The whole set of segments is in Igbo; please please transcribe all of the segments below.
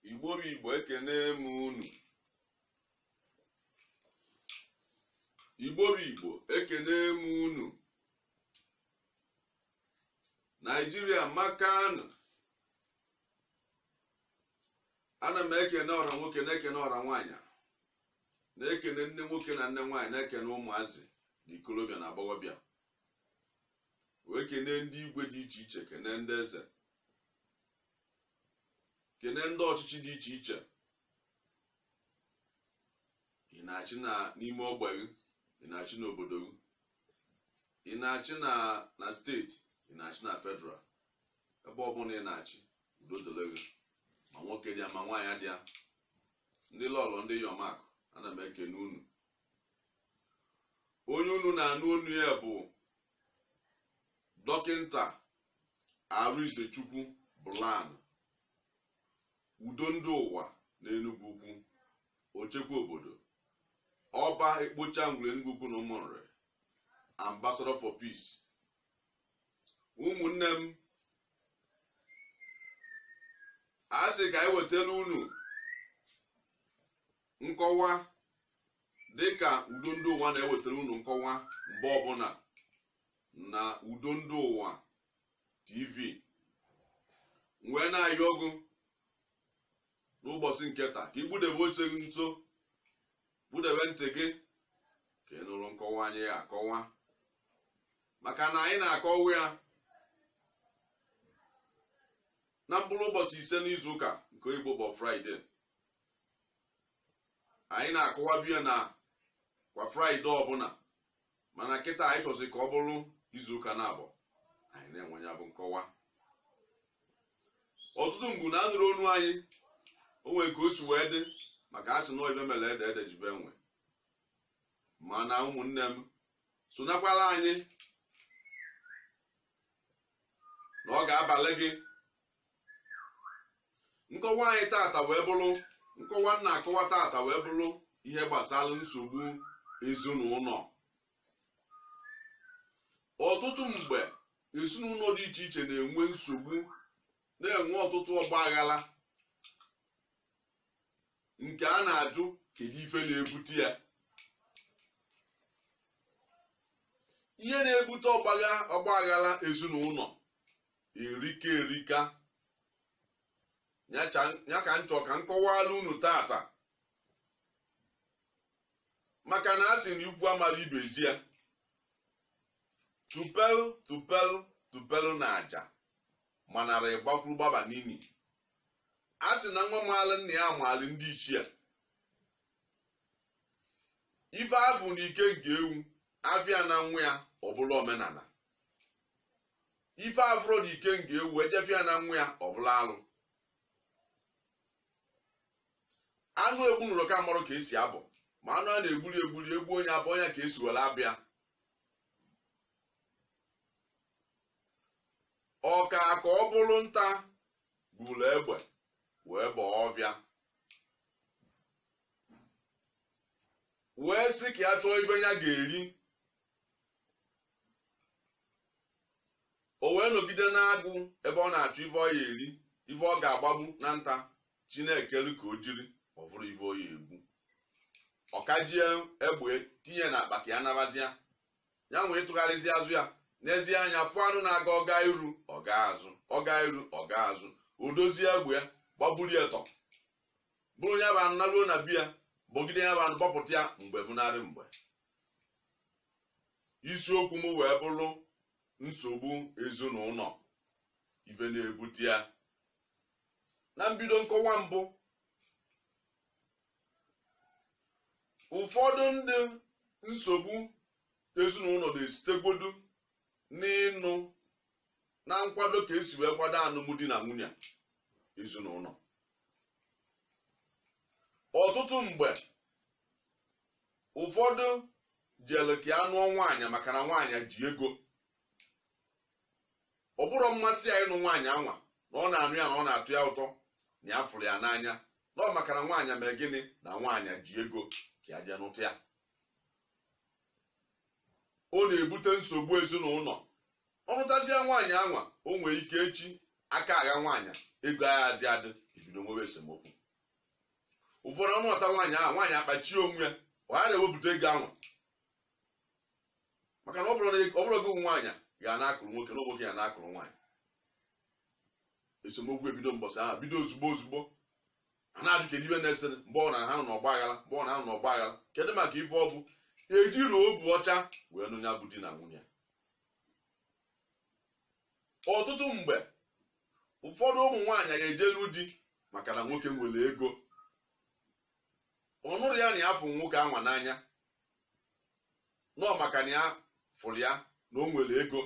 igbo bụ igbo ekene m unu igbo bụ igbo ekene m unu nigeria maka na ana m ekene ọra nwoke na-ekene ọra nwaanyị na-ekene nne nwoke na nne nwaanyị na-ekene ụmụazị ndị ikolobịa na agbọghọbịa wee kene ndị igwe dị iche iche kene ndị eze kene ndị ọchịchị dị iche iche ị na-achị na n'ime ogbe gị ị na-achị n'obodo gị ị na-achị na na steeti ị na-achị na federal ebe ọbụla ị na-achị udo dịrị gị ma nwoke dị ya ma nwaanyị dị ya ndị lọlọ ndị iyom akụ ana m ekene unu onye unu na-anụ onu ya bụ dọkịnta arịnzechukwu bụlan Udo ndị ụwa n'Enugwu Ukwu, Ochekwa obodo, Ọba ekpocha ngwuru Enugwu Ukwu na Ụmụnrị, Ambassador for Peace. Ụmụnne m, a sị ka anyị wetara unu nkọwa dịka udo ndị ụwa na-ewetara unu nkọwa mgbe ọbụla na udo ndị ụwa tv m wee na-ayọ gị n'ụbọchị nke taa ka ị kpudebe oche gị nso kpudebe ntị gị ka ị nụrụ nkọwa anyị ya-akọwa maka na anyị na-akọwa ya na mkpụrụ ụbọchị ise n'izu ụka nke igbo bụ friday anyị na-akọwabu ya na kwa friday ọbụla mana kịta anyị chọzi ka ọ bụrụ izuụka naabọ anyị na-enwe ya bụ nkọwa ọtụtụ mgbe unu anụrọ onu anyị o nwere ka o si wee dị maka a sị na ife mere ede ede ji bee nwịị mana ụmụnne m sonakwara anyị na ọ ga-abalụ gị nkọwa anyị tata wee bụrụ nkọwa m na-akọwa tata wee bụrụ ihe gbasara nsogbu ezinụlọ ọtụtụ mgbe ezinụlọ dị iche iche na-enwe nsogbu na-enwe ọtụtụ ọgba aghara nke a na-ajụ kedu ife na-ebute ya ihe na-ebute ọgba aghara ezinụlọ erika erika ya ka nchọ ka m kọwala unu tata maka na a sị na ikwu amarọ ibe ezi ya tupel tupel tupel na aja manara ịgbakwuru gbaba n'imi a sị na nwa maala nna ya amaala ndị ichie ife a fụ na ike nne ewu a fụ ya na nwa ya ọ bụrụ omenala ife a fụrọ na ike nne ewu e jee fụ ya na nwa ya ọ bụrụ alụ anụ egbunurọ ka amarọ ka esi abọ ma anụ a na-egburi egburi egbuo ya abọọ ya ka esi were abọ ya ọka ka ọ bụrụ nta buru egbe wee baa ọfịa wee sị ka ya chọọ ife ya ga-eri o wee nọgide n'agụ ebe ọ na-achọ ife ọ ya eri ife ọ ga-agbagbu na nta chi na-ekelu ka o jiri ọ fụrọ ife ọ ya egbu ọ kajie egbe tinye na akpa ka ya nabazia ya wee tụgharịzia azụ ya nezie anya fụ anụ na-aga ọ gaa iru ọ gaa azụ ọ gaa iru ọ gaa azụ o dozie egbe ya gbagburu ya tọ buru ya bụ anụ naruo na be ya bọgide ya bụ anụ bọpụta ya mgbe bụnarị mgbe isiokwu m wee bụrụ nsogbu ezinụnọ ife na-ebute ya na mbido nkọwa mbụ ụfọdụ ndị nsogbu ezinụnọ na-esitegodu n'ịnụ na nkwado ka esi wee kwado anụmdi na nwunye ezinụnọ ọtụtụ mgbe ụfọdụ jere ka ya nụọ nwaanyị maka na nwaanyị ji ego ọ bụrọ mmasị ya ịnụ nwaanyị anwa na ọ na-anụ ya na ọ na-atọ ya ụtọ na ya fụrụ ya n'anya na ọ maka na nwaanyị mee gịnị na nwaanyị ji ego ka ya jee nụta ya ọ na-ebute nsogbu ezinụnọ ọ nụtazia nwaanyị anwa o nwee ike echi aka agha nwaanyị ego ayazi adị ebido nwebe esemokwu ụfọdụ ọ nụta nwaanyị ahụ nwaanyị akpachie onwe ya ghara iwepụta ego anwa maka na ọ bụrọ na- ọ bụrọ gị nwaanyị ga na-akụrụ nwoke na nwoke ya na-akụrụ nwaanyị esemokwu ebido mbọsị ahụ bido ozugbo ozugbo a na-ajụ kedu ife na-ese mgbe ọ na ha nọ n'ọgba aghara mgbe ọ na ha nọ n'ọgba aghara kedu maka ife ọ bụ ejirọ obu ọcha wee nụ ya bụ di na nwunye ọtụtụ mgbe ụfọdụ ụmụ nwaanyị ga-ejelu di maka na nwoke nwere ego ọ nụrụ ya na ya fụ nwoke anwa n'anya no maka na ya fụrụ ya na o nwere ego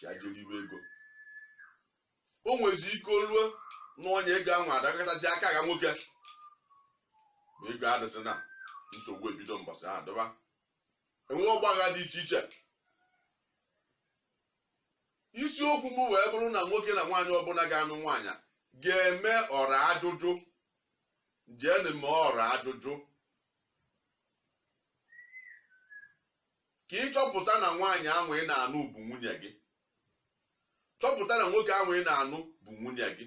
ya jee liwe ego o nwezi ike o luo na onye ego anwa adakọtazi aka ga nwoke ma ego adịzịna nsogbu ebido mbọsị ha dọba enwe ọgbagha dị iche iche isiokwu m wee bụrụ na nwoke na nwaanyị ọbụla ga-anụ nwaanyị a ga-eme ọra ajụjụ jeenụ mee ọra ajụjụ ka ị chọpụta na nwaanyị ahụ ị na-anụ bụ nwunye gị chọpụta na nwoke ahụ ị na-anụ bụ nwunye gị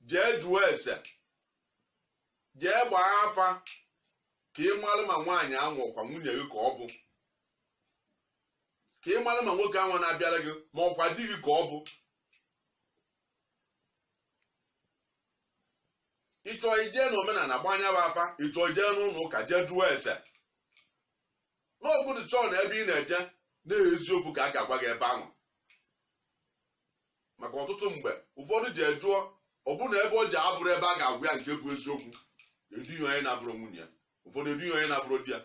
jee jụọ ese jee gbaa afa ka ị malụ ma nwaanyị ahụ ọ kwa nwunye gị ka ọ bụ ka ị malụ ma nwoke ahụ na-abịara gị ma ọ kwa di gị ka ọ bụ ị chọọ i jee na omenala gbaa nya bụ afa ị chọọ i jee n'ụnọ ụka jee jụọ ese na gị dị sure na ebe ị na-eje na eziokwu ka a ga-agwa gị ebe ahụ maka ọtụtụ mgbe ụfọdụ jee jụọ ọ bụ na ebe o je abụrọ ebe a ga-agwa ya nke bụ eziokwu eduo ya onye na-abụrọ nwunye ya ụfọdụ eduo ya onye na-abụrọ di ya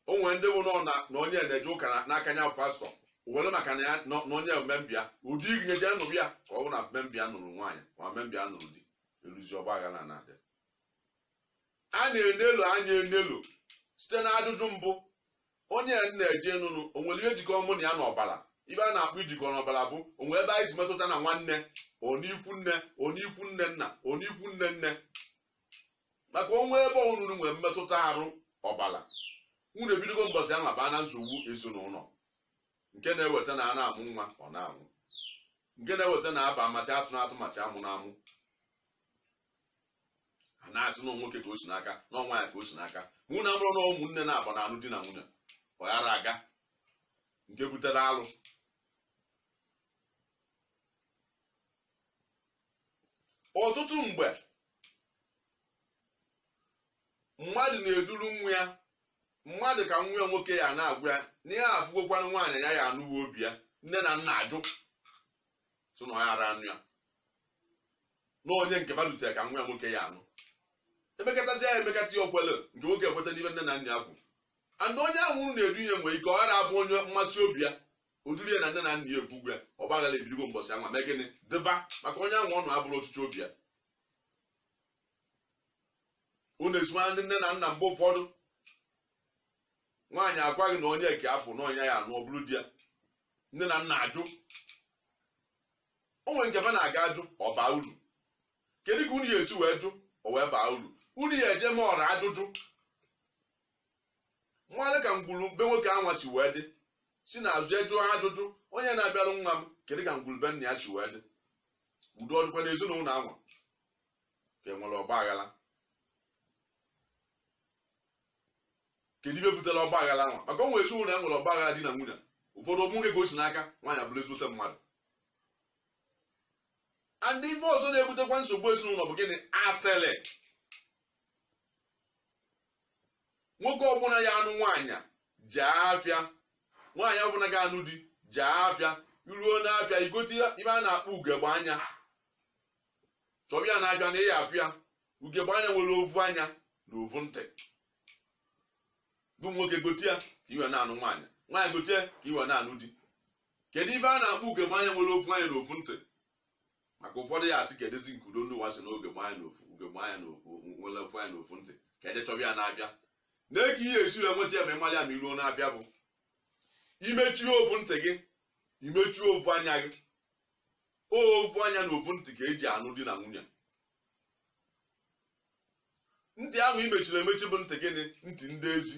o nwere ndị bụ nọ na na onye na-eje ụka na- n'aka ya bụ pastor were maka na ya nọ- na onye ọ member ya ụdị eje nụrụ ya ka ọ bụ na member ya nụrụ nwaanyị ma member ya nụrụ di eruzi ọgba aghara na-adị a na-enelu anya enelu site na ajụjụ mbụ onye a na-eje ịnụnụ o nwere ihe jikọ mụ na ya n'ọbara ife a na-akpọ ijikọ n'ọbara bụ o nwere ebe anyị si metụta na nwanne ọ n'ikwu nne ọ n'ikwu nne nna ọ n'ikwu nne nne maka o nwee ebe unu nwere mmetụta arụ ọbara unu ebidogo mbọsị ahụ abaa na nsogbu ezinụnọ nke na-eweta na a na-amụ nwa ọ na-anwụ nke na-eweta na aba amasị atụ na atụ masị amụ na amụ a na-asị na nwoke ka o si n'aka na ọ nwaanyị ka o si n'aka na amarọ na ụmụnne naabọ na-anụ di na nwunye ọ ya ara aga nke butere alụ ọtụtụ mgbe mmadụ na-eduru nwa ya mmadụ ka nwa ya nwoke ya na-agwa ya na ya afụgokwana nwaanyị ya ya anụwa obi ya nne na nna ajụ sị na ọ ya ara anụ ya na onye nke ba lụtere ka nwa ya nwoke ya anụ emekọtazi ya emekọta ya okwele nke nwoke ekweta n'ife nne na nna ya kwuru mana onye ahụ unu na-edunye nwere ike ọ ghara abụ onye mmasị obi ya ọ dịrị ya na nne na nna ya ekwugo ya ọgba aghara ebidogo mbọsị anwa mee gịnị dịba maka onye ahụ ọ nụ abụrọ ọchịchọ obi ya unu esimara ndị nne na nna mgbe ụfọdụ nwaanyị agwa gị na onye eke afọ na ọ nya ya anụ ọ bụrụ di ya nne na nna ajụ o nwere nke fa na-aga ajụ ọ baa uru kedu ka unu ya esi wee jụ o wee baa uru unu ya eje ma ọra ajụjụ mara ka ngwuru be nwoke anwa si wee dị si n'azụ ajụọ ajụjụ onye na-abịarụ nwa m kedu ka ngwuru be nna ya si wee dị udo ọ dịkwa na ezinụlọ anwa ka enwere ọgba aghara kedu ife butere ọgba aghara ahụ maka o nwe ezinụlọ ya nwere ọgba aghara di na nwunye ụfọdụ ọ nwoke ka o si n'aka nwaanyị abụrụ ezigbote mmadụ and ife ọzọ na-ebutekwa nsogbu ezinụlọ bụ gịnị asịrị nwoke ọbụla ya anụ nwaanyị jee afịa nwaanyị ọbụla ya anụ di jee afịa i ruo n'afịa i gote ife a na-akpọ ugegbe anya chọba ya n'afịa na ị ya afụ ya ugegbe anya nwere ovu anya na ovu ntị bụ nwoke gotie ka i wee na-anụ nwaanyị nwaanyị gotie ka i wee na-anụ di kedu ife a na-akpọ ugegbe anya nwere ovu anya na ovu ntị maka ụfọdụ ya asị kedụzi nke udo ndị ụwa sị na ugegbe anya na ofu ugegbe anya na ofu nwere ofu anya na ofu ntị ka eje chọba ya n'afịa na kee ihe esi ya nweta ya ma ị malụ ya ma i ruo n'afịa bụ imechie ofu ntị gị imechie ofu anya gị ovu anya na ovu ntị ka eji anụ di na nwunye ntị ahụ imechiri emechi bụ ntị gịnị ntị ndị ezi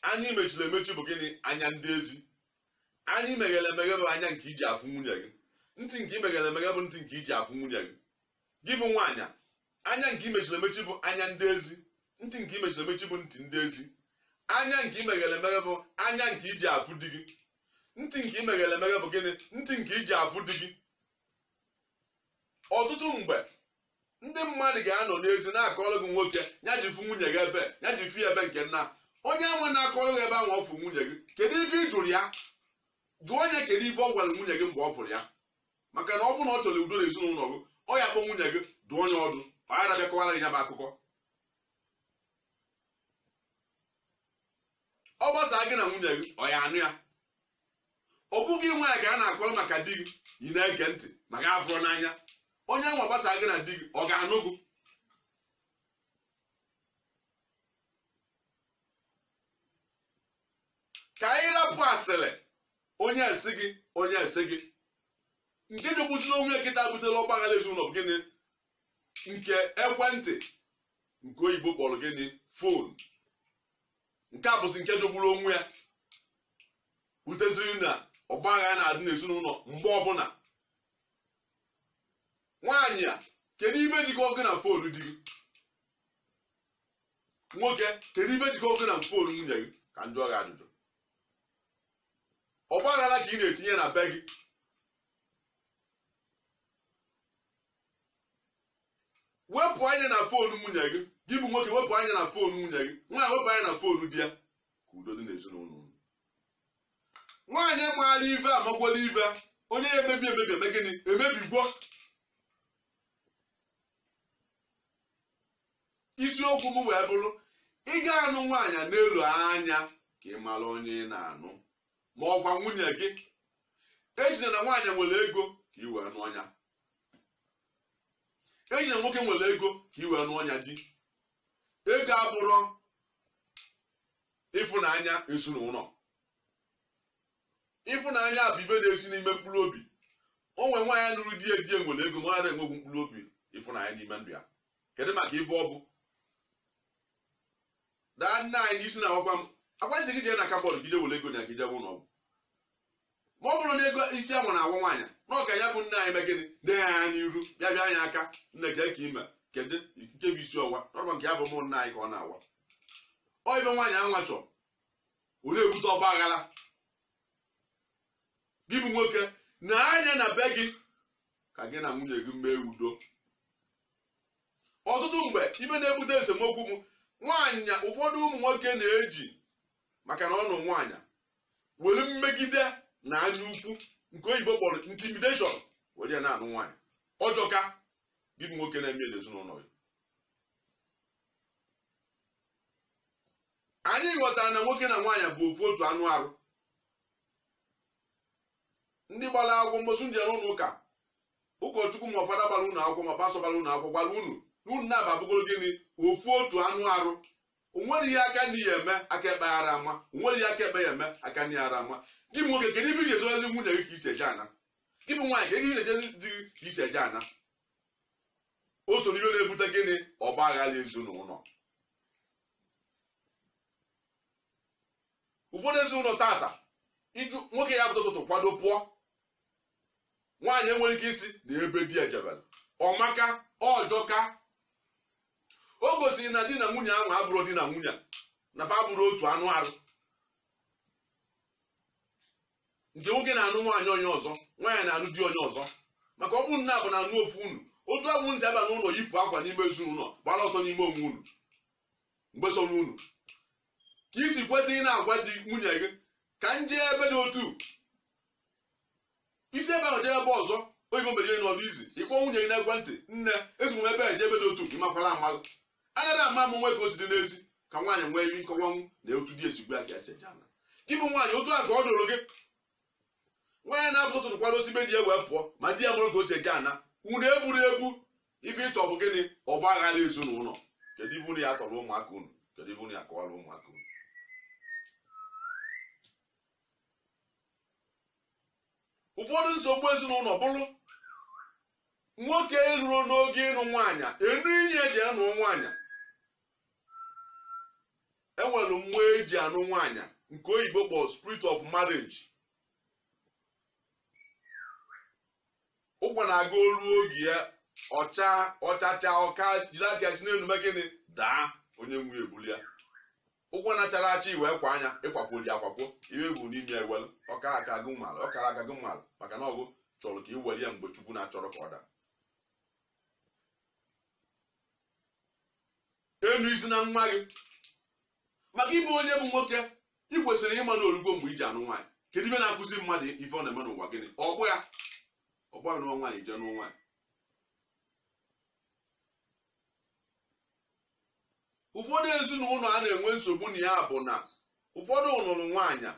anya imechiri emechi bụ gịnị anya ndị ezi anya imeghere emeghe bụ anya nke iji afụ nwunye gị ntị nke imeghere emeghe bụ ntị nke iji afụ nwunye gị gị bụ nwaanyị anya nke imechiri emechi bụ anya ndị ezi ntị nke imechiri emechi bụ ntị ndị ezi anya nke imeghere emeghe bụ anya nke iji afụ di gị ntị nke imeghere emeghe bụ gịnị ntị nke iji afụ di gị ọtụtụ mgbe ndị mmadụ ga-anọ n'ezi na-akọrọ gị nwoke ya ji fụ nwunye gị ebe ya ji fụ ya ebe nke nna onye nwa na-akọrọ gị ebe ahụ ọ fụ nwunye gị kedu ife ị jụrụ ya jụọ nya kedu ife ọ gwara nwunye gị mgbe ọ fụrụ ya maka na ọ bụrụ na ọ chọrọ udo na ezinụlọ gị ọ ya akpọ nwunye gị dụọ nya ọdụ ọ ghara abịa kọwara gị ya bụ akụkọ ọ gbasaa gị na nwunye gị ọ ya anụ ya ọ bụ gị nwaanyị ka a na-akọrọ maka di gị ị na-ege ntị ma gị afụrọ n'anya onye nwa gbasaa gị na di gị ọ ga-anụ gị ka anyị rapụ asịrị onye sị gị onye sị gị nke jọgbuziri onwe ya kịta butela ọgbaghara ezinụlọ bụ gịnị nke ekwentị nke oyibo kpọrọ gịnị fon nke a bụzi nke jọgburu onwe ya buteziri na ọgbaghara na-adị n'ezinụlọ mgbe ọbụla nwaanyị a kedu ive jikọ gị na fon di gị nwoke kedu ive jikọ gị na fon nwunye gị ka m jụọ gị ajụjụ ọgbaghara ka ị na-etinye na be gị wepụ anya na fon nwunye gị gị bụ nwoke wepụ anya na fon nwunye gị nwaanyị wepụ anya na fon di ya ka udo dị n'ezinụlọ unu nwaanyị maara ive amagwala ive onye ya emebi emebi eme gịnị emebigwo isiokwu m wee bụrụ ị ga-anụ nwaanyị nelu anya ka ị mara onye ị na-anụ ma ọkwa nwunye gị ejine na nwaanyị nwere ego ka ị wee nụọ ya ejine na nwoke nwere ego ka ị wee nụọ ya di ego abụrọ ịfụnanya ezinụlọ ịfụnanya bụ ive na-esi n'ime mkpụrụ obi o nwere nwaanyị nụrụ di di ya nwere ego ma ọ enwegwu mkpụrụ obi ịfụnanya n'ime ndụ ya kedu maka ive ọ bụ daa nna anyị n'isi na-awakwa m akwasị gị jee na kabọọdụ gị jee were ego na gị jebe ụlọ ọgwụ ma ọ bụrụ na ego isi anwa na-awa nwaanyị na ọka ya bụ nne anyị me gịnị nee ya anya n'iru bịa bịa anyị aka nne ka eke ime kedu nke bụ isi ọwa nọrọ nke ya bụ ụmụ nna anyị ka ọ na-awa ọ ive nwaanyị anwa chọrọ ọ na-ebute ọgba aghara gị bụ nwoke nee anya na be gị ka gị na nwunye gị mee udo ọtụtụ mgbe ive na-ebute esemokwu bụ nwaanyị ụfọdụ ụmụ nwoke na-eji maka na ọ nụ nwaanyị were mmegide na anya ukwu nke oyibo kpọrọ intimidation were ya na-anụ nwaanyị ọ jọka gị bụ nwoke na-eme ya n'ezinụlọ gị anyị ghọtara na nwoke na nwaanyị bụ ofu otu anụ arụ ndị gbara akwụkwọ mbọsị ndị ọrụ ụlọ ụka ụkọchukwu ma ọ fada gbara unu akwụkwọ ma pastọ gbara unu akwụkwọ gwara unu na unu naabọ abụgoro gịnị ofu otu anụ arụ o nwere ihe aka nri ya eme aka ekpe ara ama o nwere ihe aka ekpe ya eme aka nri ara ama gị bụ nwoke kedu ife ị ga-ezozi nwunye gị ka i si eje ana gị bụ nwaanyị ka ị ga-ezozi di gị ka i si eje ana o so n'ihe na-ebute gịnị ọgba aghara ezinụlọ ụfọdụ ezinụlọ tata ị jụ nwoke ya pụta ụtụtụ kwado pụọ nwaanyị enwere ike ịsị na ebe di ya jebere ọ maka ọ jọka o gosiri na di na nwunye ahụ abụrụ di na nwunye na fa abụrụ otu anụ arụ nke nwoke na-anụ nwaanyị onye ọzọ nwaanyị na-anụ di onye ọzọ maka ọ bụrụ na abụ na-anụ ofu unu otu abụ nzi aba n'ụlọ yipụ akwa n'ime ezinụlọ gbara ọtọ n'ime onwe unu mgbe sọrọ unu ka i si kwesị na-agwa di nwunye gị ka m jee ebe dị otu i si ebe ahụ jee ebe ọzọ oyibo mere ihe na ọ dị easy ị kpọọ nwunye gị n'ekwentị nne esi m ebe a jee ebe dị otu ị makwara amalụ anaghị ama amụ nwe ka o si dị n'ezi ka nwaanyị nwee ike ịkọwanwu na otu di ya si gwa ka esi eje ana gị bụ nwaanyị otu a ka ọ dịrị gị nwaanyị na-apụta ụtụtụ kwado si be di ya wee pụọ ma di ya amarọ ka o si eje ana unu egburu egbu ife ị chọ bụ gịnị ọgba aghara ezinụlọ kedu ife unu ya-atọrọ ụmụaka unu kedu ife unu ya-akọwara ụmụaka unu ụfọdụ nsogbu ezinụlọ bụrụ nwoke ị nụrụ n'oge ịnụ nwaanyị enwe ihe eji anụ nwaanyị enwere mmụọ eji anụ nwaanyị nke oyibo kpọrọ spirit of marriage ụkwa na-aga o ruo oge ya ọ chaa ọ chachaa ụkwa jiri aka si n'elu mee gịnị daa onye nwe ebulie ya ụkwa na-achara acha iwe kwa anya ịkwakwo ji akwakwo iwe bụ n'ime ewelu ọka aka gị mmalụ ọka aka gị mmalụ maka na ọ gị chọrọ ka i were ya mgbe chukwu na-achọrọ ka ọ daa enu isi na nwa gị maka ị bụ onye bụ nwoke ị kwesịrị ịma na o rugo mgbe i ji anụ nwaanyị kedu ife na-akụzi mmadụ ife ọ na-eme n'ụwa gịnị ọ bụ ya ọ bụ ya nụwa nwaanyị jee nụwa nwaanyị ụfọdụ ezinụlọ a na-enwe nsogbu na ya bụ na ụfọdụ lụrụ nwaanyị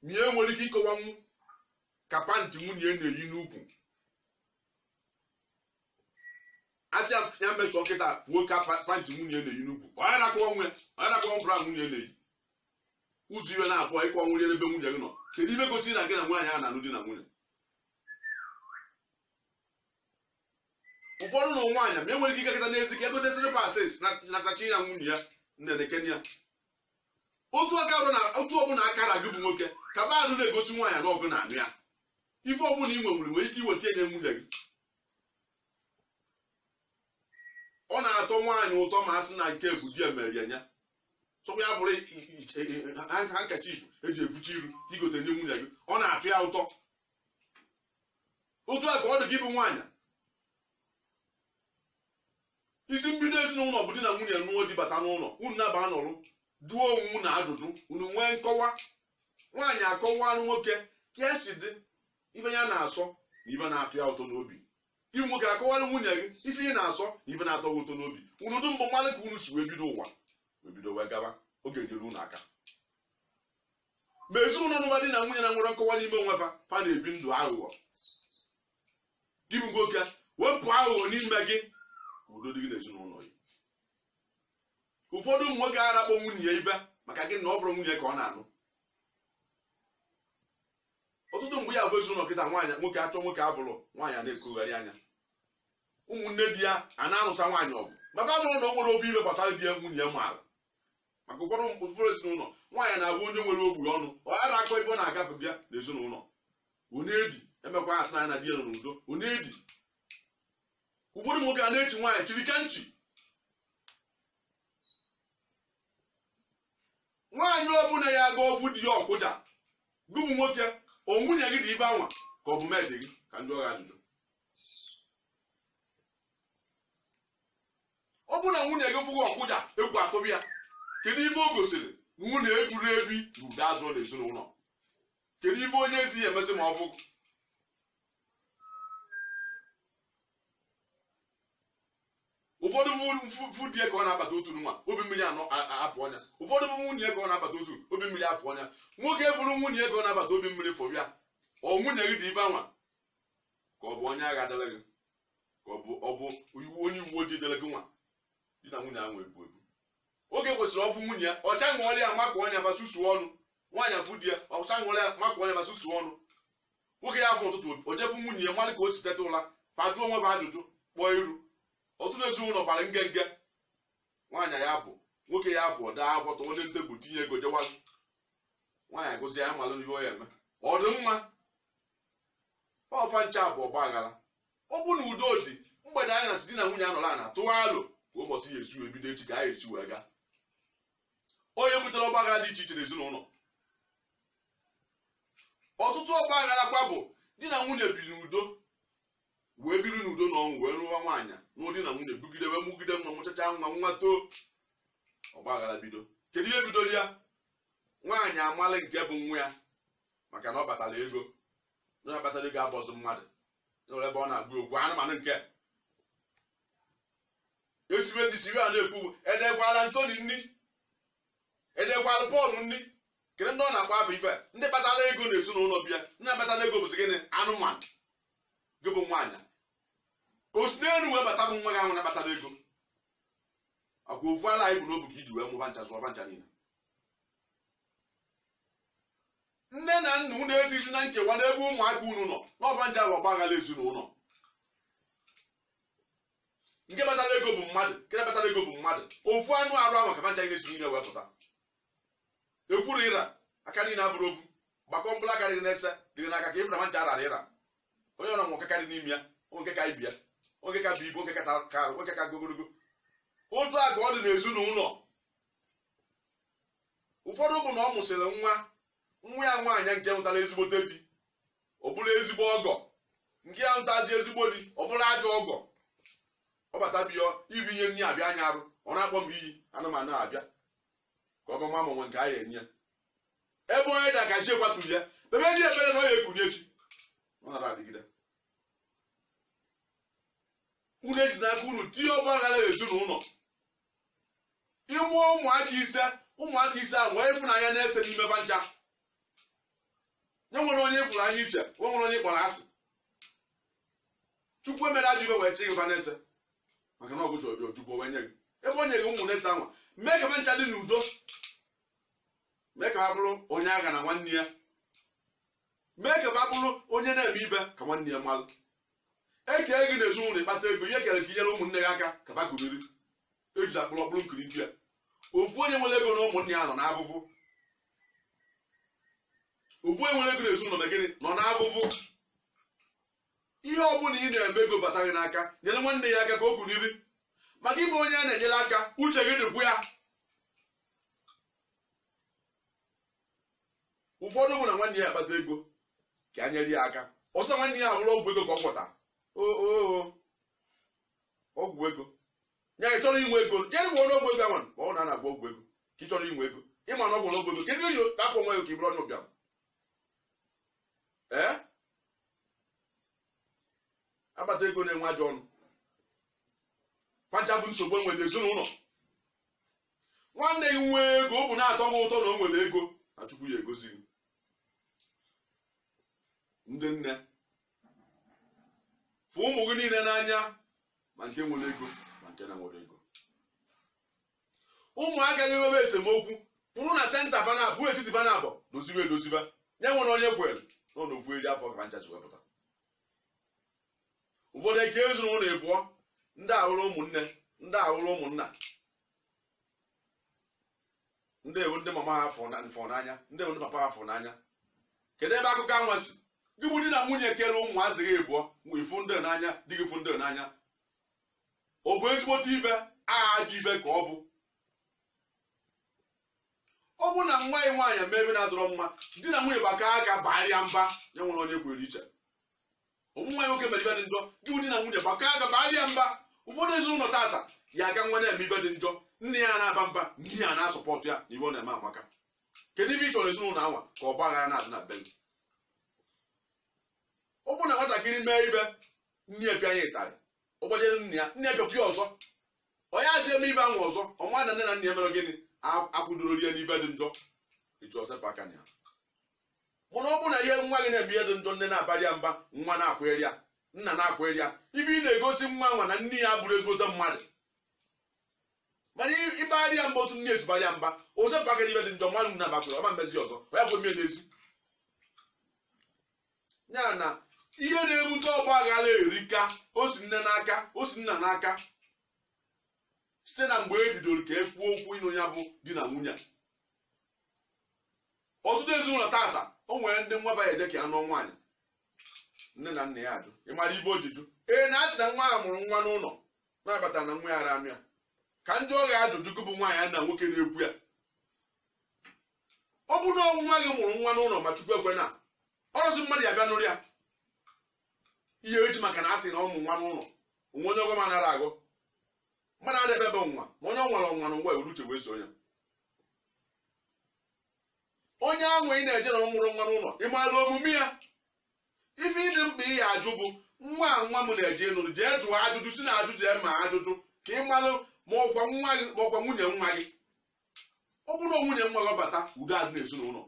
ma ya enwere ike ịkọwanwu ka panty nwunye ya na-eyi n'ukwu a sị ya mechọọ kịta kwuo ka panty nwunye ya na-eyi n'ukwu ọ ya na-akọwanwu ọ ya na-akọwanwu bra nwunye na-eyi ụzọ ife naabọ ị kọwanwurọ ebe nwunye gị nọ kedu ife gosi na gị na nwaanyị a na-anụ di na nwunye ụfọdụ nụ nwaanyị ma enwere ike ịgakata n'ezi ka e gote slippers nata chinye nwunye ya nne nekene ya otu aka arụ na otu ọbụla aka ra gị bụ nwoke ka ba anụ na-egosi nwaanyị na ọ gị na-anụ ya ife ọbụla ị nwenwuru nwere ike iweta ya nye nwunye gị ọ na-atọ nwaanyị ụtọ ma a sị na nke bụ di ya meere ya nya sọkwa ya bụrụ handkerchief eji efiche iru i gote nye nwunye gị ọ na-atọ ya ụtọ otu a ka ọ dị gị bụ nwaanyị isi mbido ezinụlọ bụ di na nwunye nụọ di bata n'ụlọ unu naabọ nọrụ jụọ onwe unu ajụjụ unu nwee nkọwa nwaanyị akọwara nwoke ka esi dị ife ya na-asọ na ife na-atọ ya ụtọ n'obi ị bụ nwoke akọwara nwunye gị ife ị na-asọ na ife na-atọ gị ụtọ n'obi unu dụ mbụ malụ ka unu si wee bido ụwa wee bido wee gaba ọ ga-enyere unu aka ma ezinụlọ ọbụla di na nwunye na-enwerọ nkọwa n'ime onwe fa fa na-ebi ndụ aghụghọ gị bụ nwoke wepụ aghụghọ n'ime gị ka udo dị gị n'ezinụlọ gị ụfọdụ ụmụ nwoke ara akpọ nwunye ya ife maka gịnị ọ bụrọ nwunye ka ọ na-anụ ọtụtụ mgbe ya bụ ezinụlọ kịta nwaanyị nwoke achọ nwoke abụrụ nwaanyị a na-ekogharị anya ụmụnne di ya a na-anụsa nwaanyị ọgụ maka bụrụ na o nwerọ ofu ife gbasara di ya nwunye ya maara maka ụfọdụ ụfọdụ ezinụlọ nwaanyị na-abụ onye nwere ogburu ọnụ ọ ghara akọ ebe ọ na-agafe bịa n'ezinụlọ onye edi emekwa asị na ya na di ya nọ n'udo onye edi ụfọdụ nwoke a na-echi nwaanyị chiri ka nchi nwaanyị ọbụla ya aga ọ fụ di ya ọ kụja gị bụ nwoke ọ nwunye gị dị ife anwa ka ọ bụ maid gị ka m jụọ gị ajụjụ ọ bụrụ na nwunye gị fụ gị ọ kụja egwu atụba ya kedu ife o gosiri na nwunye ejuru ebi na udo adịrọ na ezinụlọ kedu ife onye ezi ya emezi ma ọ bụ ụfọdụ fụ di ya ka ọ na-abata otu nwa obi mmiri anọ apụọ ya ụfọdụ fụ nwunye ka ọ na-abata otu obi mmiri apụọ ya nwoke fụrụ nwunye ka ọ na-abata obi mmiri fọbịa ọ nwunye gị dị ife anwa ka ọ bụ onye agha dara gị ka ọ bụ ọ bụ iwu onye uwe ojii dere gị nwa di na nwunye ahụ ebu ebu nwoke kwesịrị ọ fụ nwunye ya ọcha ṅụọrị ya makụọ ya ma susuo ọnụ nwaanyị afụ di ya ọcha ṅụọrị ya makụọ ya ma susuo ọnụ nwoke ya apụ ụtụtụ o jee fụ nwunye ya malụ ka o si teta ụla fa ajụọ onwe fa ajụjụ kpọọ iru ọtụtụ ezinụlọ gbara nge nge nwaanyị ya apụ nwoke ya apụ o dee akwụkwọ tụọ ya na tebụl tinye ego jewa nwaanyị agụzie ya malụ n'ihe ọ ya eme ọ dị mma ọ fa ncha bụ ọgba aghara ọ bụ na udo dị mgbede anyasị di na nwunye anọrọ ana tụọ alo ka ụbọchị ya esi ebido echi ka anyị esi wee gaa onye butere ọgba aghara dị iche iche n'ezinụlọ ọtụtụ ọgba aghara kwa bụ di na nwunye biri n'udo wee biri n'udo na ọṅụ wee rụwa nwaanyị nụọ di na nwunye bigide wee mụgide nwa mụchacha nwa nwa too ọgba aghara bido kedu ihe bidoro ya nwaanyị amala nke bụ nwa ya maka na ọ kpatara ego onye akpatarọ ego abụzị mmadụ nwere ebe ọ na-agwa okwu anụmanụ nke esiwe ndị siwe a na-ekwu edekwala anthony nri edekwala paul nri kedu ndị ọ na-akpa afọ ife ndị kpatara ego na ezinụlọ bịa ndị na-akpatarọ ego bụzi gịnị anụmanụ gị bụ nwaanyị o si n'elu wee bata bụ nwa gị ahụ na-akpatarọ ego ọkwa ofu ala a ị bu n'obu ka iji wee mụọ ba ncha zụọ ba ncha niile nne na nna unu etizina nkewa n'ebe ụmụaka unu nọ n'ọba nje ahụ ọgbaghara ezinụlọ nke kpatara ego bụ mmadụ nke akpatarọ ego bụ mmadụ ofu anụ arụ ahụ ka ba ncha si niile wee pụta ekwuru ịra aka niile abụrọ ofu gbakọọ mkpụrụ aka dị gị na-ese dị gị n'aka ka ị fụ na ba ncha ararọ ịra o nwere nke karị n'ime ya nwee nke ka ibe ya nwee nke ka bu ibu nwee nke ka nwee nke ka ogologo otu a ka ọ dị n'ezinụlọ ụfọdụ bụ na ọ mụsịrị nwa nwa ya nwaanyị nke nụtara ezigbote di ọ bụrụ ezigbo ọgọ nke anụtazi ezigbo di ọ bụrụ ajọ ọgọ ọ bata bịa ibunye nri abịa anya arụ ọ na-akpọ iyi anụmanụ abịa ka ọgọ m a mụnwe nke anyị enye ebe onye da ka chi ya kwatu ya mee ya ebere na ọ ya ekunye echi ọ nara adịgide unu esi n'aka unu tinye ọgba aghara ezinụlọ ị mụọ ụmụaka ise ụmụaka ise ahụ nwee ịfụnanya na-ese n'ime ba ncha nye nwere onye ị fụrụ n'anya iche nwe nwere onye ị kpọrọ asị chukwu emerọ ajọ ife wee chịnye gị na-ese maka na ọgụjọ ọjọọ chukwu wee nye gị ebe o nyere gị ụmụ na-ese anwa mee ka ba ncha dị n'udo mee ka ba bụrụ onye aghana nwanne ya mee ka ba bụrụ onye na-eme ife ka nwanne ya malụ ekee gị na ezinụlọ ị kpata ego ihe e kere ka i nyere ụmụnne gị aka ka ba kuniri eji akpụrụ ọkpụrụ nkiri di ya ofu onye nwere ego na ụmụnne ya nọ n'afụfụ ofu onye nwere ego na ezinụlọ na gịnị nọ n'afụfụ ihe ọ bụla ị na-eme ego bata gị n'aka nyere nwanne gị aka ka o kuniri maka ị bụ onye a na-enyere aka uche gị dịkwu ya ụfọdụ bụ na nwanne ya akpata ego ka a nyere ya aka ọ sị nwanne ya gwọrọ ọgwụ ego ka ọ gwọta ọgwụ ego ya ị chọrọ inwe ego jee gwọọnụ ọgwụ ego anwa ma ọ na na-agwọ ọgwụ ego ka ị chọrọ inwe ego ị ma na ọ gwọrọ ọgwụ ego kedu ihe kapụ nwa ya ka ị bụrụ onye ụbịam ee akpata ego na-enwe ajọ ọnụ ba ncha bụ nsogbu enwere n'ezinụlọ nwanne gị nwee ego ọ bụ na-atọ gị ụtọ na o nwere ego na chukwu ya-agọzi gị ndị nne fụ ụmụ gị niile n'anya ma nke nwere ego ma nke na-enwerọ ego ụmụaka gị nwebe esemokwu pụrụ na center fa naabọ etiti fa naabọ dozibe edozibe ya enwene onye kwere nọ n'ofu eri afọ ka ncha si wee pụta ụfọdụ ekee ezinụlọ ịbụọ ndị a awụrụ ụmụnne ndị a awụrụ ụmụnna ndị a wụ ndị mama ha fụrụ na- fụrụ n'anya ndị a wụ ndị papa ha fụrụ n'anya kedu ebe akụkọ anwa si gị bụ di na nwunye kere ụmụazị gị ịbụọ mgbe ị fụ ndị a n'anya di gị fụ ndị a n'anya ọ bụ ezigbote ife ajọ ife ka ọ bụ ọ bụrụ na nwa ya nwaanyị mee ife na-adịrọ mma di na nwunye gbakọ aka barị ya mba ya enwene onye kwụrụ iche ọ bụ nwa ya nwoke mere ife dị njọ gị bụ di na nwunye gbakọ aka barị ya mba ụfọdụ ezinụlọ tata ya aga nwa na-eme ife dị njọ nne ya na-aba mba nna ya na-asupport ya na ife ọ na-eme amaka kedu ife ị chọrọ ezinụlọ anwa ka ọgbaghara na-adị na be gị ọ bụrụ na nwatakịrị mee ife nne ya pịa ya ịtarị ọ gbajere nna ya nna ya pịakwa ya ọzọ ọ yazị eme ife ahụ ọzọ ọ maa na nne na nna ya mere gịnị a- akwụdorọ ya n'ife dị njọ e ji ọ sepụ aka na ya mana ọ bụrụ na ihe nwa gị na-eme ihe dị njọ nne na-abarị ya mba nwa na-akwụgharị ya nna na-akwụgharị ya ife ị na-egosi nwa anwa na nne ya abụrọ ezigbote mmadụ mana ị- ịbarị ya mba otu nne ya si barị ya mba ọ sepụ aka n'ife dị njọ ma nna bakwuru ọ ma mezi ọzọ onye akwụrụ mmiri n'ezi ya na ihe na-ebute ọgba aghara erika o si nne n'aka o si nna n'aka site na mgbe e bidoro ka e kwuo okwu ịnụ ya bụ di na nwunye a. ọtụtụ ezinụlọ tata o nwere ndị nwa fa eje ka ya nụọ nwaanyị nne na nna ya ajụ ị mara ife o ji jụ ee na a sị na nwa a mụrụ nwa n'ụlọ na-abata na nwa ya ayarọ anụ ya ka m jụọ gị ajụjụ gị bụ nwaanyị na nwoke na-ekwu ya ọ bụ na ọ wụ nwa gị mụrụ nwa n'ụlọ ma chukwu ekwena ọ rọzị mmadụ ya-abịa nụrụ ya ị ya-eji maka na a sị na ọ mụrụ nwa n'ụlọ o nwee onye ọgọ ma nara agụ mmadụ adịghị ebe nwa ma onye ọ nwere ọnwa na ngwa ewere uche wee so ya onye ahụ ị na-eje na ọ mụrụ nwa n'ụlọ ị maara omume ya ife dị mkpa ị ya-ajụ bụ nwa a nwa m na-eje ịnụrụ jee jụọ ajụjụ si na ajụjụ ya ma ajụjụ ka ị malụ ma ọ kwa nwa gị ma ọ kwa nwunye nwa gị ọ bụrụ na nwunye nwa nabata udo adị n'ezinụlọ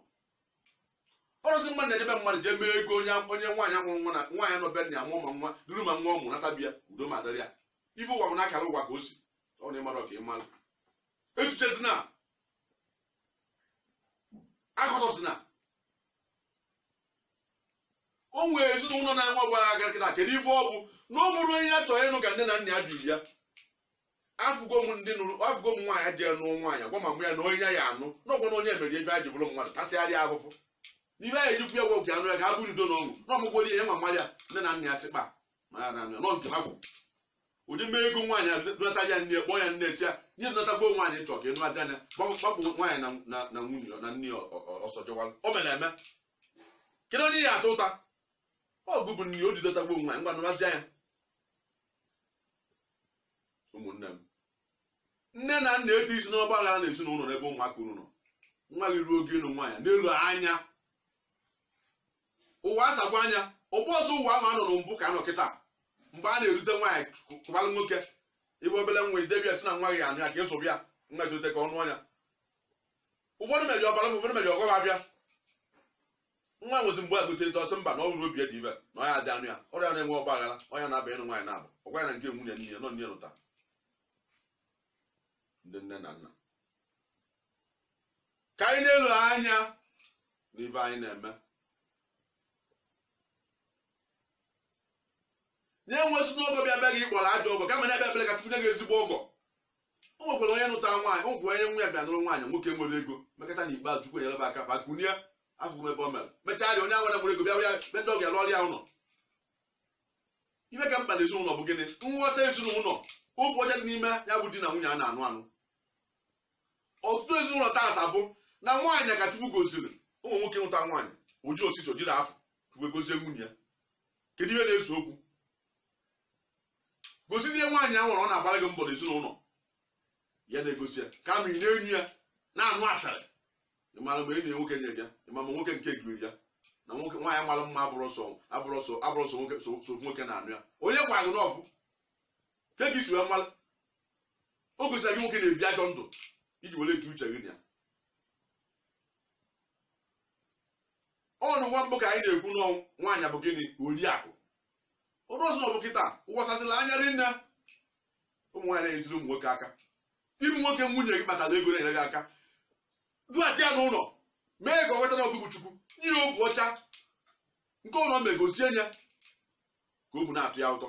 ọ rọzị mmadụ na-eje be mmadụ jee mee ego o nwee onye nwaanyị a mụrụ nwa na nwaanyị nọ be nna ya mụọ ma nwa duru ma nwa ọ mụrụ nata bịa udo ma dịrị ya ife ụwa bụ na akara ụwa ka o si ọ na ị mara ọ ka ị malụ echichezina akọtọsi na o nwee ezinụlọ na-enwe ọgbaghara kịta kedu ife ọ bụ na ọ bụrọ onye ya chọrọ ịnụ ka nne na nna ya biri ya afụgo m ndị nụrụ afụgo m nwaanyị jee nụọ nwaanyị gwa mama ya na onye ya ya anụ n'ọgwụ na onye mere ebe a ji bụrụ mmadụ tasịgharịa ahụhụ n'ibe anyị ejikwu ya gwọgwụ anụ ya ga abụ ndo na ọṅụ na ọmụgwọ ihe ma mmadụ ya nne na nna ya sịkpa ma ya na nọ nke ha gwụ ụdị mee ego nwaanyị adụnata ya nne kpọọ ya nne si ya nye dụnatagbo nwaanyị chọọ ka ịnụghazi anya gbapụ nwaanyị na nwunye na nne ya ọsọ jewalụ o mere eme kedu onye ọ ya ata ụta ọ gụ bụ nne o ji dọtagbo nwaanyị ngwa nụwazịa ya ụmụnne m nne na nna etinyezina ọgba aghara na ezinụlọ n'ebe ụmụaka unu nọ nwa gị ruo oge ịnụ nwaanyị nelụ anya ụwa asakwa anya ọ bụrọzị ụwa ahụ a nọ na mbụ ka a nọ kịta mgbe a na-erute nwaanyị kụbalụ nwoke ibe obele nwa i debe ya sị na nwa gị anụ ya ka ị zụba ya nwa jite ka ọ nụọ ya ụfọdụ meri ọbara ụfọdụ meri ọgọba abịa nwa nwezi mgbe agụta eto ọ sị mba na ọ rụrụ obi dị ibe na ọ ya azị anụ ya ọrịa na-enwe ọgba aghara ọnya na-aba ịnụ nwaanyị na-abụ ọ gwara na nke nwunye nne ya nọ nne lụta ndị nne na nna ka anyị nelụ anya n'ife anyị na-eme enwezina ọgọ bịa be gị ị kpọọ ya ajọ ọgọ kama na-ekpe ekpere ka chukwu nye gị ezigbo ọgọ o nwekwara onye nụtara nwaanyị o nwekwara onye nwa ya bịa nụrụ nwaanyị nwoke nwere ego mekọta na ikpeazụ chukwu enyere ha aka fa kunie afụgo m ebe ọ mere mechaa rịa onye ahụ nwere ego bịa bịa be ndị ọbịa rụọrịa ụlọ ife ka mkpa na ezinụlọ bụ gịnị nghọta ezinụlọ obu ọcha dị n'ime ya bụ di na nwunye a na-anụ anụ ọtụtụ ezinụlọ taata bụ na nwaanyị ka chukwu goziri ụmụ nwoke nụta nwaanyị oji osisi ojiri afọ chukwu egozie nwunye ya kedu ihe na-ese okwu gosizie nwaanyị a nwere ọ na-agbara gị mbọ n'ezinụlọ ya na-egosi ya ka ma ị na-enyi ya na-anụ asara ị mara mgbe enyi ya nwoke nye gị ya ị ma ma nwoke nke giri ya na nwoke nwaanyị mara mma abụrọ sọ abụrọ sọ abụrọ sọ nwoke so so nwoke na-anụ ya onye gwara gị na ọ gụ ka gị si wee mara o gosiri gị nwoke na-ebi ajọ ndụ iji were etu uche gị na ya ọ bụ na mbụ ka anyị na-ekwu na ụmụ nwaanyị bụ gịnị oriakụ ọ bụrọzị ọ bụ kịta ụwa asasịla anya rinne ụmụ nwaanyị na-enyeziri ụmụ nwoke aka ị bụ nwoke nwunye gị kpatara ego na-enyere gị aka dughachi ya n'ụlọ mee ka ọ mata na ọ gụ bụ chukwu nye ya obu ọcha nke ụlọ megosie ya ka obu na-atọ ya ụtọ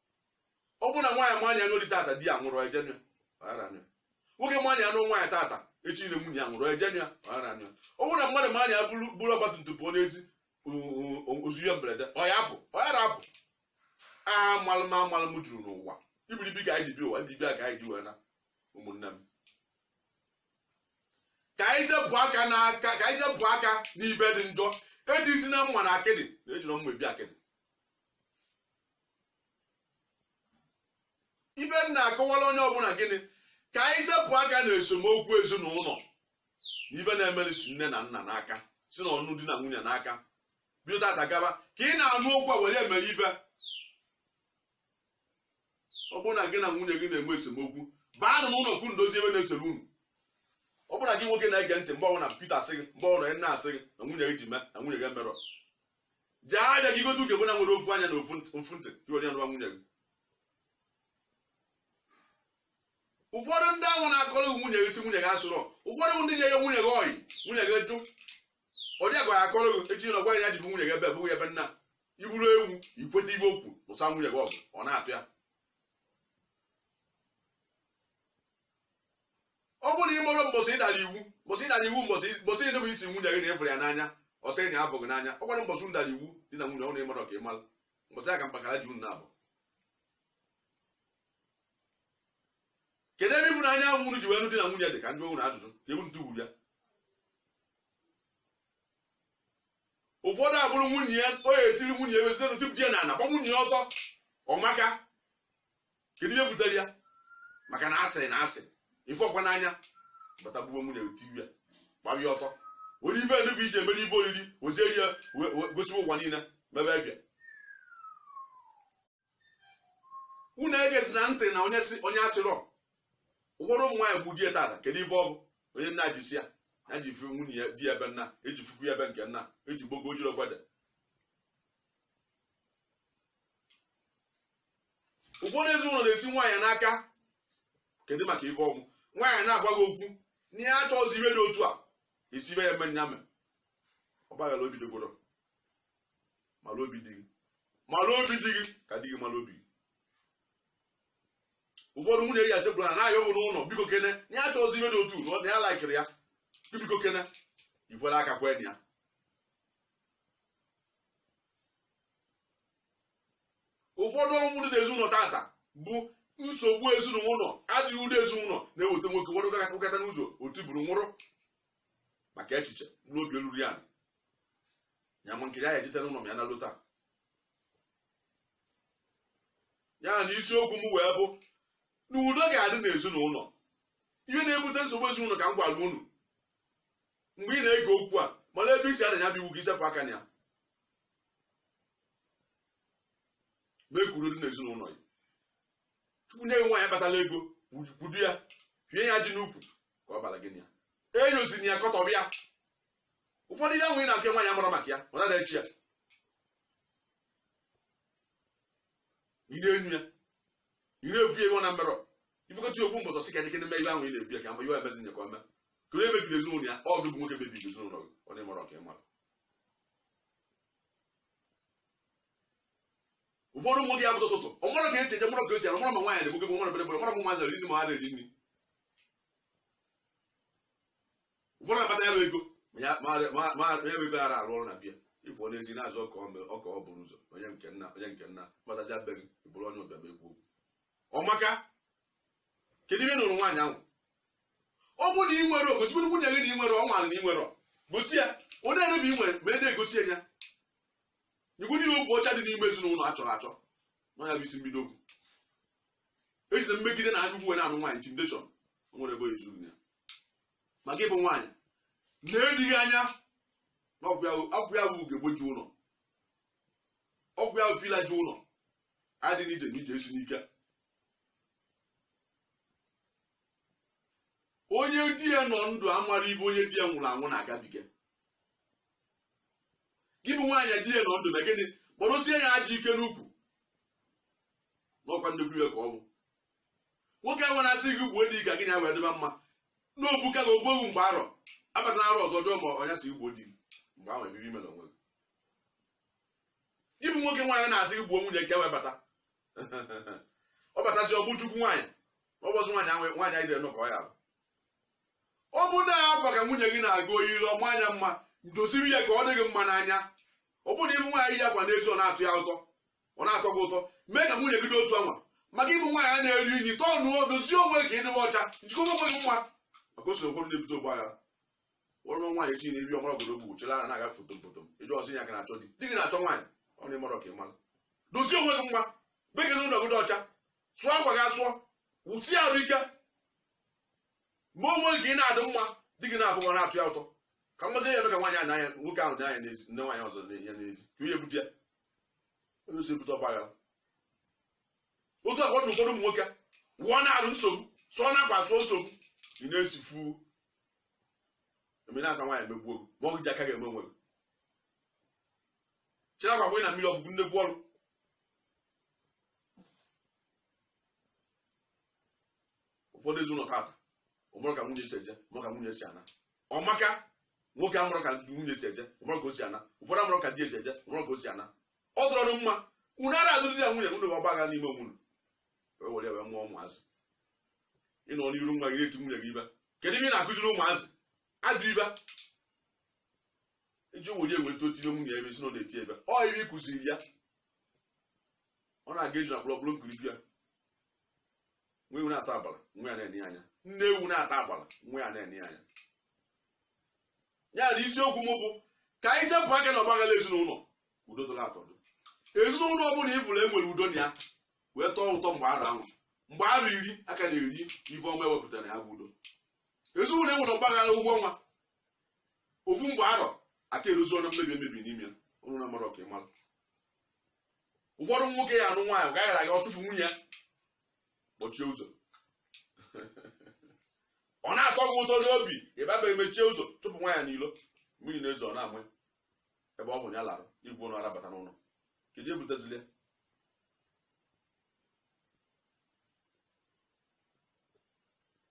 ọ bụrụ na nwaanyị ma na ya nụọ di tata di ya nwụrụ o je anụ ya nwoke ma na ya nụọ nwaanyị tata echi ile nwunye ya nwụrụ o je anụ ya ọ bụrụ na mmadụ ma na ya buru ọgbatumtum pụọ n'ezi o zuo ya mberede ọ ya apụ ọ ya rapụ amalụ m amalụ m juru n'ụwa ibiribi ka anyị ji bi ụwa ibiribi a ka anyị ji wee na ụmụnne m ka anyị sepụ aka n'aka ka anyị sepụ aka n'ife dị njọ ejizina mma na akịdị na ejirọ mma ebi akịdị ibe m na-akọwara onye ọbụla gịnị ka anyị sepụ aka na esemokwu ezinụlọ na ibe na-emerisi nne na nna n'aka si unu di na nwunye n'aka bido tata gaba ka ị na-anụ okwu a were mee ibe ọ bụrụ na gị na nwunye gị na-enwe esemokwu baanụ n'ụlọ ka unu dozie ibe na-esere unu ọ bụrụ na gị nwoke na-ege ntị mgbe ọbụla ị pụta asị gị mgbe ọbụla a na-asị gị na nwunye gị dị ime na nwunye gị emerọ jee ahịa gị gote ugegbe na nwere ofu anya na ofu nt- ofu ntị ka were ya nụwa nwunye gị ụfọdụ ndị ahụ na-akọrọ gị nwunye gị sị nwunye gị asịrọ ụfọdụ bụ ndị na-enye nwunye gị ọyị nwunye gị jụ ọ dị agwa ya akọrọ gị echi na ọgwa ya jibu nwunye gị ebe bụghị ebe nna ị bụrụ ewu i kweta ibe o kwu lụsa nwunye gị ọgụ ọ na-atụ ya ọ bụrụ na ị marọ mbọsị ị dara iwu mbọsị ị dara iwu mbọsị mbọsị ịnụ bụ ị sị nwunye gị na ị fụrụ ya n'anya ọ sị gị na ya afụ gị n'anya ọ gwara mbọsị unu dara iwu di na nwunye ọ na ị mara ka ị mara mbọsị ya ka mpakara ji unu na-abụ kedu ebe ịfụnanya ahụ unu ji wee nụ di na nwunye dị ka m jụ unu ajụjụ kee ebe unu tufuru ya ụfọdụ eburu nwunye ya o etiri nwunye ya wesịrị tupu di ya na ana gba nwunye ya ọtọ ọ maka kedu ihe butere ya maka na a sị na a sị ị fụrọkwa n'anya bata buru nwunye tiwe gbara ya ọtọ were ibe ndị be gị ji emere ibe oriri wezieri ya we- we- gosi ụwa niile mebe ibe a unu egezina ntị na onye sị onye asịrọ ụfọdụ ụmụ nwaanyị bụ di ya tata kedu ibe ọ bụ onye nna ji si ya na ji fi nwunye ya di ya ebe nna eji fukwu ya ebe nke nna eji gbogo ojiro gwada ụfọdụ ezinụlọ na-esi nwaanyị n'aka kedu maka ibe ọ bụ nwaanyị na-agwa gị okwu na ya achọghịzi ibe dị otu a esibe ya eme nya mere ọgbaghara obi di gị o mara obi di gị mara obi di gị ka di gị mara obi gị ụfọdụ nwunye ya sekpuru ana na-ayọ ụlọ ụlọ biko kene na ya achọghịzi ibe dị otu a ọ na ya laikirọ ya biko kene ikwere aka kwee na ya ụfọdụ ọnwụ dị n'ezinụlọ tata bụ nsogbu ezinụlọ adịghị udo ezinụlọ na-eweta nwoke ụfọdụ gara akụkọta n'ụzọ ọ tuburu nwụrụ maka echiche mkpụrụ obi olulu ya ya ma nkiri ya ejetere ụlọ m ya na lota ya na isiokwu m wee bụ na udo ga-adị n'ezinụlọ ihe na-ebute nsogbu ezinụlọ ka m gwara unu mgbe ị na-ege okwu a mara ebe i si ada ya bụ iwu ị sepụ aka na ya mee ka udo dị n'ezinụlọ ya chukwu nye gị nwaanyị kpatala ego kwudo ya kee ya ajị n'ukwu ka ọ bara gị na ya enyoziri ya kọtọrọ ya ụfọdụ ihe ahụ ị na-apịa nwaanyị amara maka ya ọ nara echi ya ị na-enyu ya ị na-evu ya iwe na mmerọ ifekọta ofu mbọtọ sị ka ndị mee ihe ahụ ị na-ebu ya ka mgbe iwe emezi nye ka ọ mee kere emebiri ezinụlọ ya ọ gị bụ nwoke mebiri ezinụlọ gị ọ na-emara ọkwa ị mara ụfọdụ ụmụ gị ya bụ ụtụtụ ọ marọ ka esi eje marọ ka esi arụ marọ ma nwaanyị na-egbu gị marọ bere bere marọ ma nwaanyị na-eri nri ma ha na-eri nri ụfọdụ akpata ya bụ ego ma ya ma ya ma ya bụ ego ara arụ ọrụ na bịa ịfụ onye ezi na-azụ ọka ọ mere- ọka ọ bụrụ ụzọ onye nke nna onye nke nna kpatazia be gị bụrụ onye ọbịa ma ekwu okwu ọmaka kedu ihe nụrụ nwaanyị ahụ ọ bụrụ na ị nwere i gosigoro nwunye gị na ị nwere ọ mara na ị nwere gosi ya onye erebe ị nwere ma ede egosi ya nyegwuru ihe okwu ọcha dị n'ime ezinụlọ a chọrọ achọ na ọ ya bụ isi mbido okwu ejizi mmegide na anya ukwu were anụ nwaanyị intimidation o nwere ebe ezu ya ma gị bụ nwaanyị na-edighị anya na ọkwa ya bụ ugegbe ji ụlọ ọkwa ya bụ pillar ji ụlọ adị n'ije na ije esi n'ike onye di ya nọ ndụ amarọ ife onye di ya nwụrụ anwụ na-agabiga gị bụ nwaanyị di ya nọ ndụ na gịnị kpọrọsie ya ajị ike n'ukwu n'ọkwa nnukwu iwe ka ọ bụ nwoke ahụ na-asị gị gbuo di gị ka gị na ya wee dịba mma na ọ bụ ka na ogbowu mgbe arọ abatala arọ ọzọ jụọ ma ọ ya sị gbuo di gị mgbe ahụ ebibi ime na onwe gị gị bụ nwoke nwaanyị na-asị gị gbuo nwunye gị ka o wee bata ọ batazi ọ bụ chukwu nwaanyị ọ bụzi nwaanyị ahụ nwaanyị anyị dịrị ka ọ ya bụ ọ bụ na akwa ka nwunye gị na-aga o yiri ọ maa ya mma doziri ya ka ọ dị gị mma n'anya ọ bụrụ na ịbụ nwaanyị ya gwa n'ezi ọ na-atọ ya ụtọ ọ na-atọ gị ụtọ mee ka nwunye gị dị otu anwa ma gị bụ nwaanyị a na-eru unyi tọọ nụọ dozie onwe ka ị dịwa ọcha njikọba onwe gị mma maka o so ụfọdụ na-ebute ọgba agha ọrụ nwaanyị chi na-eri ọ mara ọgọdọ kpuchie ara na-aga potom potom ị jụọ ọ sị ya ka na-achọ di di gị na-achọ nwaanyị ọ na ị marọ ka ị mara dozie onwe gị mma mee ka ụlọ gị dị ọcha sụọ akwa gị asụọ wụsie arụ ike ma onwe gị ị na-adị mma di gị na-afụ gị ọ na-atọ ya ụtọ ka mmasị ya eme ka nwaanyị a n'anya nwoke ahụ dị anya n'ezi nee nwaanyị ọzọ anya n'ezi ka onye ebute ya onye osi ebute ọgba aghara otu akwa na ụfọdụ ụmụ nwoke wụọ na arụ nsogbu sụọ na akwa sụọ nsogbu ị na-esifu emere asị nwaanyị emegbuo gị ma ọ gị ji aka gị eme onwe gị chịrị akwa gbanye na mmiri ọ bụ gị nnekwu ọrụ ụfọdụ ezinụlọ tata ọ marọ ka nwunye si eje ma ka nwunye si ana ọ maka nwoke amarọ ka nwunye si eje ọ marọ ka o si ana ụfọdụ amarọ ka di ya si eje ọ marọ ka o si ana ọ dịrọ unu mma unu ara azụrụzi ya nwunye unu ọgbaghara n'ime onwe unu wee were ya wee mụọ ụmụazị ị nọ n'iru nwa gị na-eti nwunye gị ife kedu ihe ị na-akụziri ụmụazị ajọ ife iji were eweta o tie nwunye ife sị na ọ na-eti ife ọ ife ị kụziri ya ọ na-aga eji na kpọrọkpọrọ nkirikwu ya nne ewu na-ata agbara nwa ya na-ene anya nne ewu na-ata agbara nwa ya na-ene anya ya na isiokwu m bụ ka anyị sepụ aka na ọgbaghara ezinụlọ udo dịla atọdụ ezinụlọ ọbụla ị fụrụ enwere udo na ya wee tọọ ụtọ ọ gbaa arọ ahụ ọ gbaa arọ iri a ka na-eri ife ọma ewepụtara ya bụ udo ezinụlọ enwere ọgbaghara ụgwọ ọnwa ofu ọ gbaa arọ aka eruzi ọnụ mmebi emebi n'ime ya ọnụ na mara ọka ịmara ụfọdụ nwoke ya anụ nwaanyị ọgbaghara aga ọ chụpụ nwunye ya kpọchie ụzọ ọ na-atọ gị ụtọ n'obi ịbaba emechie ụzọ chụpụ nwa ya n'ilo mmiri na-ezo ọ na-ama ya ebe ọ bụ na ya lara igwe ụlọ arabata n'ụlọ kedu ebutezili ya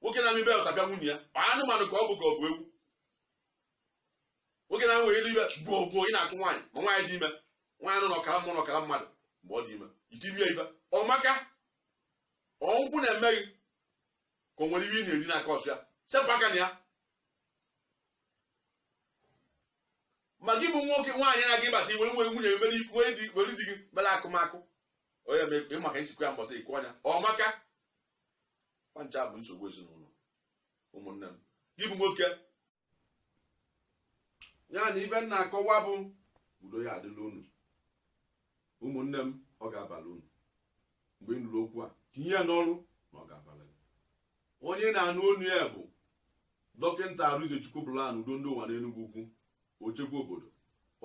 nwoke na-anụ ibe ya ọtabịa nwunye ya ọ anụmanụ ka ọ bụ ka ọ bụ ewu nwoke na nwere elu ibe gboo gboo ị na-akụ nwaanyị ma nwaanyị dị ime nwaanyị nọ n'ọkara mmụọ n'ọkara mmadụ mgbe ọ dị ime i tibe ya ife ọ maka ọgwụ na-eme gị ka o nwere ihe ị na-eri n'aka ọsụ ya sepụ aka na ya ma gị bụ nwoke nwaanyị na gị bata i were nwere nwunye mere ikwu di were di gị mere akụmakụ onye ma ị maka isikwa ya mbọsị ikwu ọnya ọ maka fa ncha bụ nsogbu ezinụlọ ụmụnne m gị bụ nwoke ya na ife m na-akọwa bụ udo ya adịla unu ụmụnne m ọ ga-abala unu mgbe ị nụrụ okwu a tinye ya n'ọrụ na ọ ga-abala gị onye na-anụ onu ya bụ dọkịta arinzechukwu bụlan udo ndị ụwa n'enugwu ukwu ochekwa obodo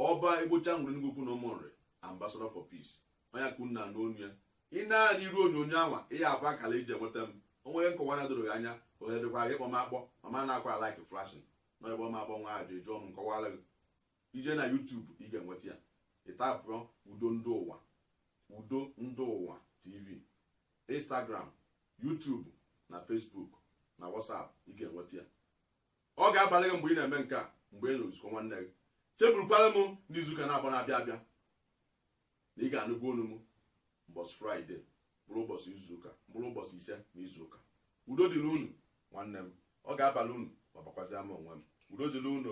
ọba egbocha nwere enugwu ukwu na ụmụnri ambassador for peace onye ka unu na-anụ onu ya ị nee anya n'iru onyonyo anwa ị ya-afụ akara iji enweta m o nwere nkọwa na-edorọ gị anya ohere dịkwa gị kpọọ m akpọ mama na-akwa like flashing na ebe ọma akpọ nwa ajọ eji ọnụ m kọwara gị Ị jee na YouTube ị ga-enweta ya. Ị taịpụọ Udo Ndị Ụwa, Udo Ndị Ụwa TV, Instagram, YouTube na Facebook na WhatsApp ị ga-enweta ya. Ọ ga-abala gị mgbe ị na-eme nke a mgbe ị nụrụ nzukọ nwanne gị. Chebulukwara m n'izuụka nabọ na-abịa abịa. na ị ga-anụkwa onu m ụbọsị fraịde bụrụ ụbọsị izuụka bụrụ ụbọsị ise na izuụka udo dịlị unu nwanne m ọ ga-abalụ unu ma bakwazịa m onwe m udo dịlị unu